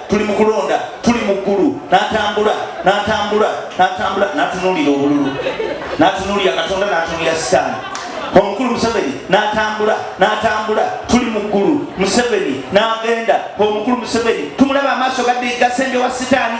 tuli mu kulonda tuli mu ggulu n'atambula n'atambula n'atambula n'atunuulira obululu n'atunuulira katonda n'atunuulira sitaani omukulu museveni n'atambula n'atambula tuli mu ggulu museveni n'agenda omukulu museveni tumulaba amaaso gasenjowa sitaani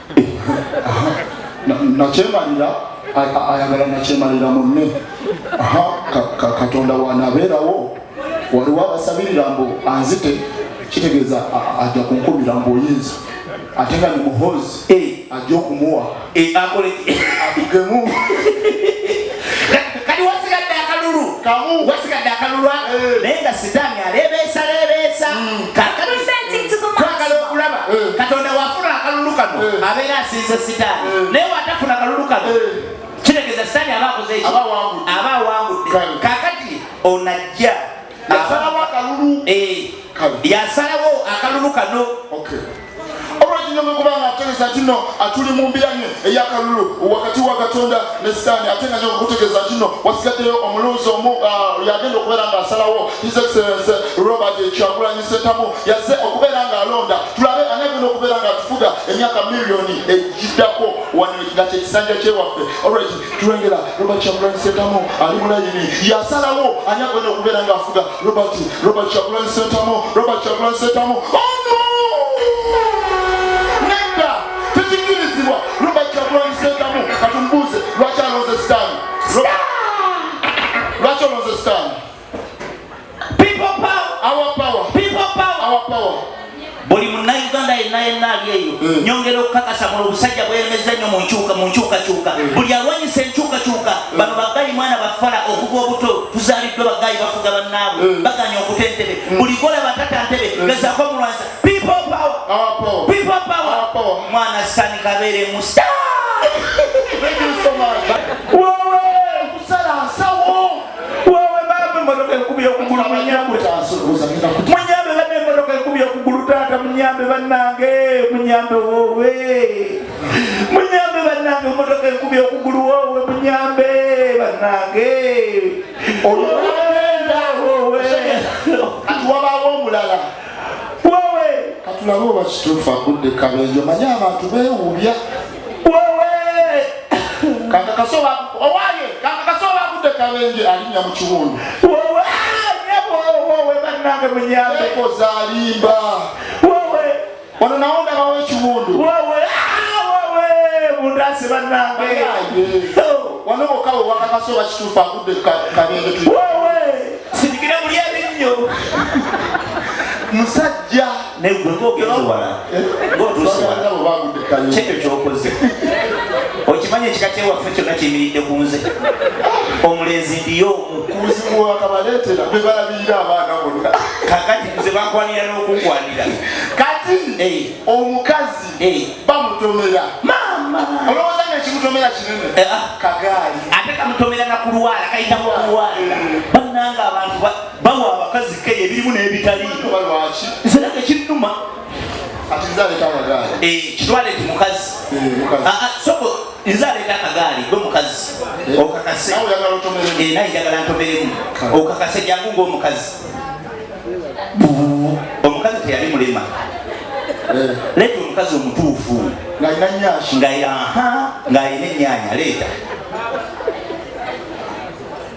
nakyemalira ayagala nakyemalira munne katonda wanabeerawo waliwo abasabirira mbu anzite kitegeeza ajja kunkumira mbu oyinza ate nga nimuhozi eh. ajja okumuwa eh, akolekemu kati wasigadde akalulu kamu wasigadde akalulu ako eh. naye nga sitaani aleebeesa leebeesa hmm. twagala okulaba eh. katonda wafuna akalulu kano eh. abeera asinza sitaani naye watafuna akalulu kano kitegeeza sitaani aba akoze aba awangudde kakati onajja yasalawo akalulu eh, yasalawo akalulu kano olwokinyomekubanga ategeza kino atuli mu mbiranye eyakalulu wakati wa katonda ne sitaani ate nga nyokukutegeza kino wasigaddeyo omulunzi omu ah, yagenda okubeera nga asalawo his excellence robert kyagulanyi sentamu yaze okubeera nga alonda tulabe ani agenda okubeera nga atufuga emyaka miliyoni egiddako wano nga kyekisanja kyewaffe olwekyo tulengera robert kyagulanyi sentamu ali mulayini yasalawo ani agenda okubeera nga afuga robert robert kyagulanyi sentamu robert kyagulanyi sentamu ono nedda tekikirizibwa robert kyagulanyi sentamu katumubuuze lwaki alonze sitaani lwaki olonze sitaani buli munnauganda yenna yenna ali eyo hmm. nyongera okukakasa muno obusajja bweyemeza nnyo munkyuka mu nkyukakyuka hmm. buli alwanyisa enkyukakyuka hmm. bano baggayi mwana bafala okuva obuto tuzaliddwa baggayi bafuga bannaabwe baganya okuta entebe buli golaba tata ntebe gezako mulwanisa mwana sani kabeere musa Wewe baba emotoka ekubye okugulu munyambe. Munyambe bana emotoka ekubye okugulu taata munyambe banange munyambe wowe. Munyambe banange emotoka ekubye okugulu wowe munyambe banange. Olwenda wowe. Atuwabawo omulala. Wowe. Katulabe oba kituufu agudde kabenjo manye abantu bewubya. kabenje alinya mu kiwundu nange munyambe koza alimba wowe ono nawo ndabawo ekiwundu wowe mundase ah, banange oh. wano okawe wakakasi oba kituufu agudde kabenje wowe sirikire muli ebinnyo musajja naye gwe ng'ogenda owala ng'otuuse wala kyekyo kyokoze okimanyi ekika kyewaffe kyonna kiyimiridde ku nze omulenzi ndiyo omukuzimu wakabaletera bebalabirira abaana bonna kakati nze bakwanira n'okukwanira kati omukazi bamutomera maama olowooza nga ekimutomera kinene eh, ah. kagaali ate kamutomera nakulwala kayitamu okulwala eh. bannanga abantu bawa abakazi keyo ebirimu n'ebitali nze nange kinnuma eh, kitwale ti mukazi eh, ah, ah, soko nze aleeta akagaali gwe mukazi eh. okakase naye njagala ntomeremu okakase jangu ngaomukazi omukazi teyali mulema leeta omukazi omutuufu ng'alina ennyaanya leeta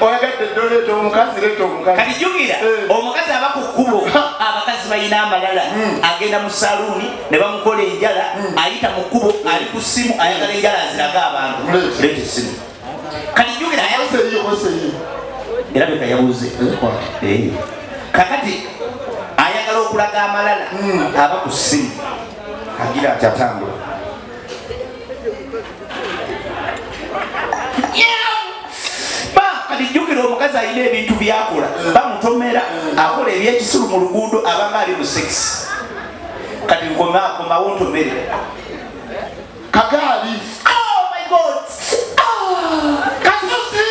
oyagadde dda oleeta omukazi leeta omukazi kati jukira eh. omukazi aba ku kkubo abakazi balina amalala hmm. agenda mu saluuni ne bamukola enjala hmm. ayita mu kkubo ali ku ssimu ayagala enjala aziraga abantu leeta essimu kati jukira era beka yabuze eh. kakati ayagala okulaga amalala hmm. aba ku ssimu agira ati atambula jjukira omukazi alina ebintu byakola bamutomera akola ebyekisulu mu luguudo abanga ali mu sex kati nkomakomawo ntomere kagaali oh my god oh, kasusi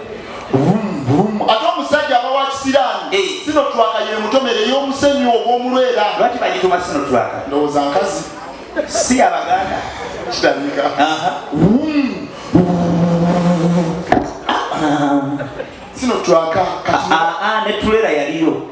ate omusajja aba wa kisiraamu eh. sino twaka ye mutomere ey'omusenyu ogw'omulwera lwaki bagituma sino twaka ndowooza nkazi si abaganda kitandika sino twaka ah, ah, ah, ne tulera yaliyo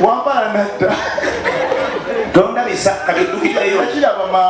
wambala nadda tondabisa kati ddukireyo